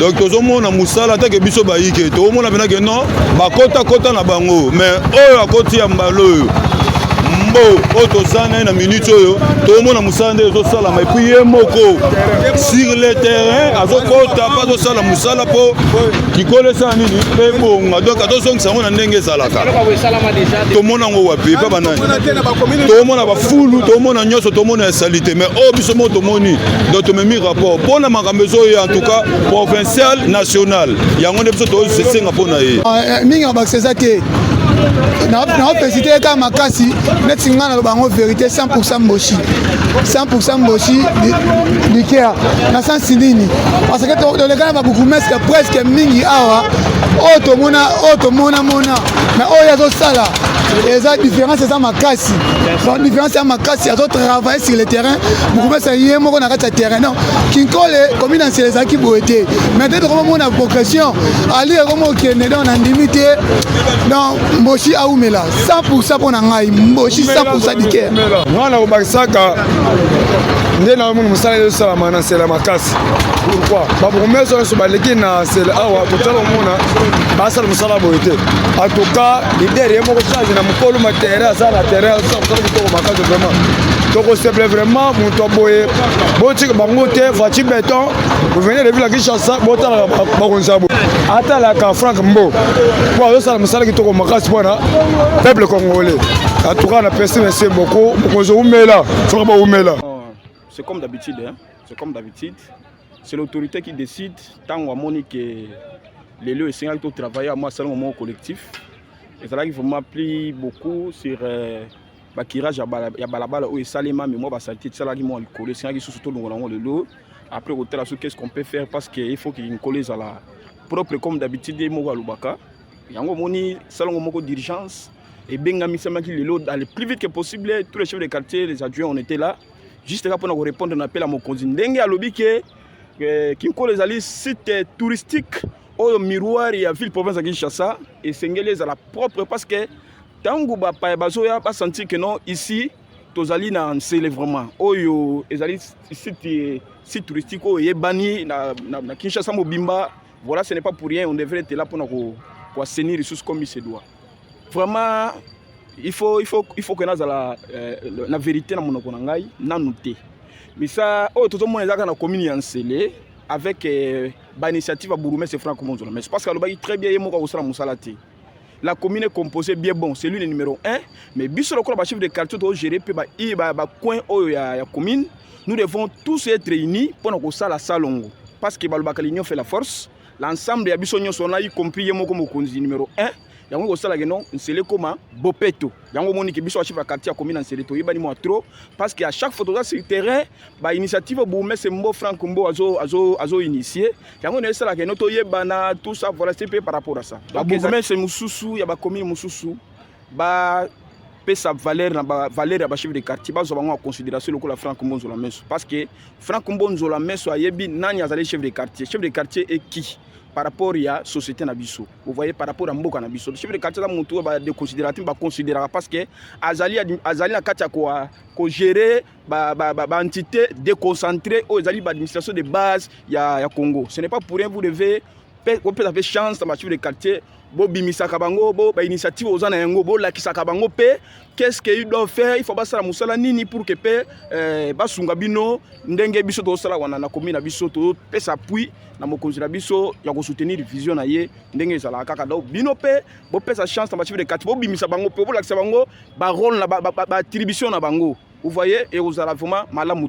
donc tozomona mosala atake biso bayike toomona mpena ke non bakotakota na bango mais oyo akoti ya mbala oyo mbo oyo toza na ye na minute oyo toomona mosala nde ezosalama epuis ye moko sur le terrain azokota mpe azosala mosala mpo likolo esala nini ebonga donc atozongisa yango na ndenge ezalaka tomona yango wapi epa banani tomona bafulu tomona nyonso tomona ya salite mais oyo biso moko tomoni donc tomemi rapport mpona makambo ezoye en tout cas provincial national yango nde biso tosenga mpo na ye ah, eh, mingi mabakisa eza te naopesite ye kaka makasi neti ngai naloba yango verité 100 mboshi 100 mboshi likea na sansi nini parce que toleka na babukumeske presque mingi awa oyo oh, tomona oyo oh, tomonamona na oyo oh, azosala eza différence eza makasi donc différence ya makasi azotravaille sur le terrain mokumesa ye moko na kati ya terrain non kinkole komi na nsela ezalaki boye te mai te tokoma mona progression ali ekoma okende donc nandimi te donc mboshi aumela 100 pourcent mpo na ngai mboshi 100 pourcent dikere ngai nakobakisaka nde na omoni mosala ezosalama na nsela makasi pourkui bapromese nyonso baleki na nsela awa kotala omona basala mosala boye te atuka lider ye moko change na mokolo ma terrain aza na terrain azosala mosala kitoko makasi vraiment tokoseble vraiment moto aboye botika bango te voici beton vous venez de ville à Kinshasa botalaka bakonzi ya boye atalaka Frank Mbo mpo azosala mosala kitoko makasi mpo na peuple congolais atuka na pesi mese boko mokonzi oumela soki baumela oh, c'est comme d'habitude hein? c'est comme d'habitude c'est l'autorité qui décide ntango amoni ke lelo esengaki totravaille ya mwa salongo moko collectif ezalaki vraiment pli beaucoup sur euh, bakirage ya balabala oyo esalema me mwa basalite tisalaki mwa likolo esengaki susu tolongola yango lelo après kotala soki qu'est ce qu'on peut faire parce que il faut que nkolo ezala propre comme d'habitude ye moko alobaka yango omoni salongo moko d'urgence ebengamisamaki lelo dans le plus vite que possible tous les chefs de quartier les adjoints on était là juste kaka mpona korépondre na appel ya mokonzi ndenge alobi ke euh, kinkolo ezali site touristique oyo miroir ya ville province ya kinshasa esengeli ezala propre parce que Tango ba paya bazoya ba sentir que non ici tozali na nsele vraiment oyo ezali site site touristique oyo eyebani na, na, na Kinshasa mobimba voilà ce n'est pas pour rien on devrait être là pona ko ko assainir lisusu comme il se doit vraiment il faut il faut il faut que nazala euh, na vérité na monoko na ngai nanu te misa oyo tozomona ezalaka na commune ya nsele avec euh, ba initiative ya bourgmestre frank monzola mais parce que alobaki très bien ye moko akosala mosala te la commune est composée bien bon c'est lui le numéro 1 mais biso lokola ba chef de quartier to gérer pe ba ba, ba coin oyo ya, ya commune nous devons tous être unis pour na kosala salongo parce que balobaka l'union fait la force l'ensemble ya biso nyonso wana y compris ye moko mokonzi numéro 1 yango kosalaka no nsele ekóma bopeto yango omoni ke biso bachef ya quartier akomi na nsele toyebani mwa trop parce que à chaque fois toza sur terrain bainitiative bourgmestre mbo frank mbo azoinitie azo, azo yango na esalaka eno toyebana tout ça voilà c'est par rapport à ça babourgmestre mosusu ya bacommune mosusu ba pesa valeur na ba valeur ya ba chef de quartier bazwa bango en considération lokola Franck Mbonzo la meso parce que Franck Mbonzo la meso ayebi nani azali chef de quartier chef de quartier est qui par rapport ya société na biso vous voyez par rapport ya mboka na biso chef de quartier aza motu oyo badeconsidérate baconsidéraka parce que azali azali na kati ya kogere ba, ba, ba, ba entité déconcentrée oyo ezali ba administration de base ya, ya Congo ce n'est pas pour rien vous devez kopesa mpe chance na bachef de quartier bobimisaka bango bo bainitiative oza na yango bolakisaka bango mpe qu'est-ce que ils doivent faire il faut basala mosala nini pour que mpe eh, basunga bino ndenge biso tozosala wana na komi na biso topesa appui na mokonzi na biso ya kosoutenir vision na ye ndenge ezalaka kaka donc bino mpe bopesa chance na bachief de quartier bobimisa bango mpe bolakisa bango barole na baattribution na bango vous voyez ekozala vraiment malamu